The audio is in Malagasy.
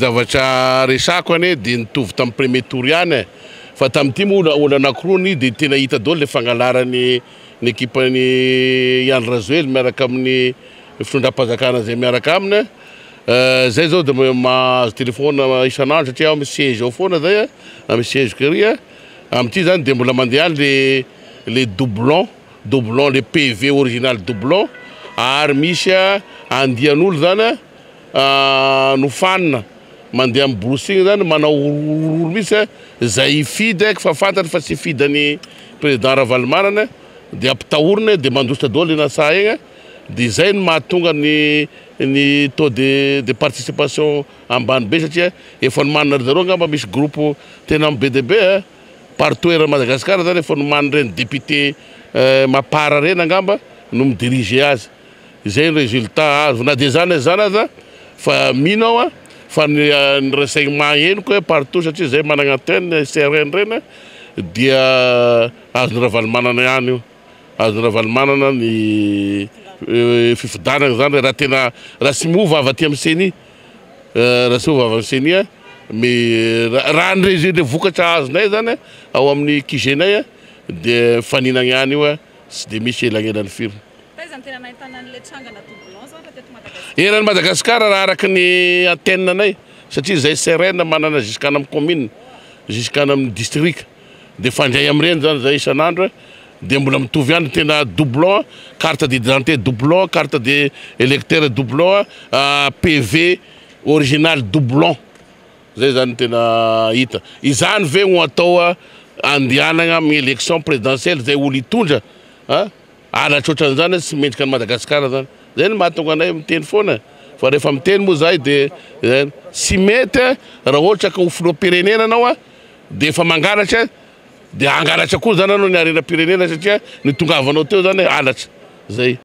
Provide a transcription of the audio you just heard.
Zavatra resako anie dia nitovy tamin'ny premier tour ihany e! Fa tamin'ity moa olana ankiroany dia tena hita daholo ilay fangalaran'ny ny ekipan'i Ihany Rajoely miaraka amin'ny fitondram-panjakana izay miaraka aminy e! Izay izao dia mahazo telefaonina isan'andro satria aho mi-siège ao foana izay e! Na mi-siège-ko ery e! Amin'ity izany dia mbola mandeha ihany ilay ilay doublon, doublon, ilay PV original doublon ary misy andian'olo izany e! nofanina mandeha amin'ny borosy igny zany manao horohoro mihitsy eh, zay hifidy eh, fa fantatry fa tsy hifidy an'i président Ravalomanana eh, de ampitahorina eh, de mandositra daholo eny an-tsaha egny eh, de zay no mahatonga ny ny taux de de participation ambany be satria efa nomanina ry zareo angamba misy groupe tena be dia be eh, partout eran'i Madagasikara zany efa nomanin'ireny député mapar reny angamba no mi-diriger azy. Izay ny résultat azo. Na dia izany na izany aza fa mino aho fa ny ny renseignements henoko hoe partout satria izahay managna antenne ICRN ireny dia azon'i Ravalomanana ihany io. Azon'i Ravalomanana ny fifidanagna izany raha tena raha tsy miova avy aty amin'ny ceni. Raha tsy miova avy amin'ny ceni me- raha ny résu- ilay vokatra azonay izany ao amin'ny QG-nay dia mifaninagna ihany io. Tsy dia misy elanelany firy. Taiza no tena nahitana an'ilay trangana doublon izao raha teto Madagasikara? Eran'i Madagasikara raha araka ny antenne anay satria izay srn manana ziskany amin'ny commune, ziskany amin'ny distrika dia fandray amin'ireny izany izay isan'andro dia mbola mitovy ihany ny tena doublon, carte d'identité doublon, carte d'electeur doublon, PV original doublon. Zay zany tena hita. Izany ve no atao andianagna amin'ny élection présidentielle zay olo hitondra an? Halatra otran'izany tsy mendrika an'i Madagascar zany. Zay no mahatonga anay miteny foana fa rehefa miteny moa zahay de tsy mety raha ohatra ka ho filoham-pirenena anao an de efa mangalatra an de hangalatra koa zany anao ny harenam-pirenena satria ny itongavanao teo zany halatra. Zay.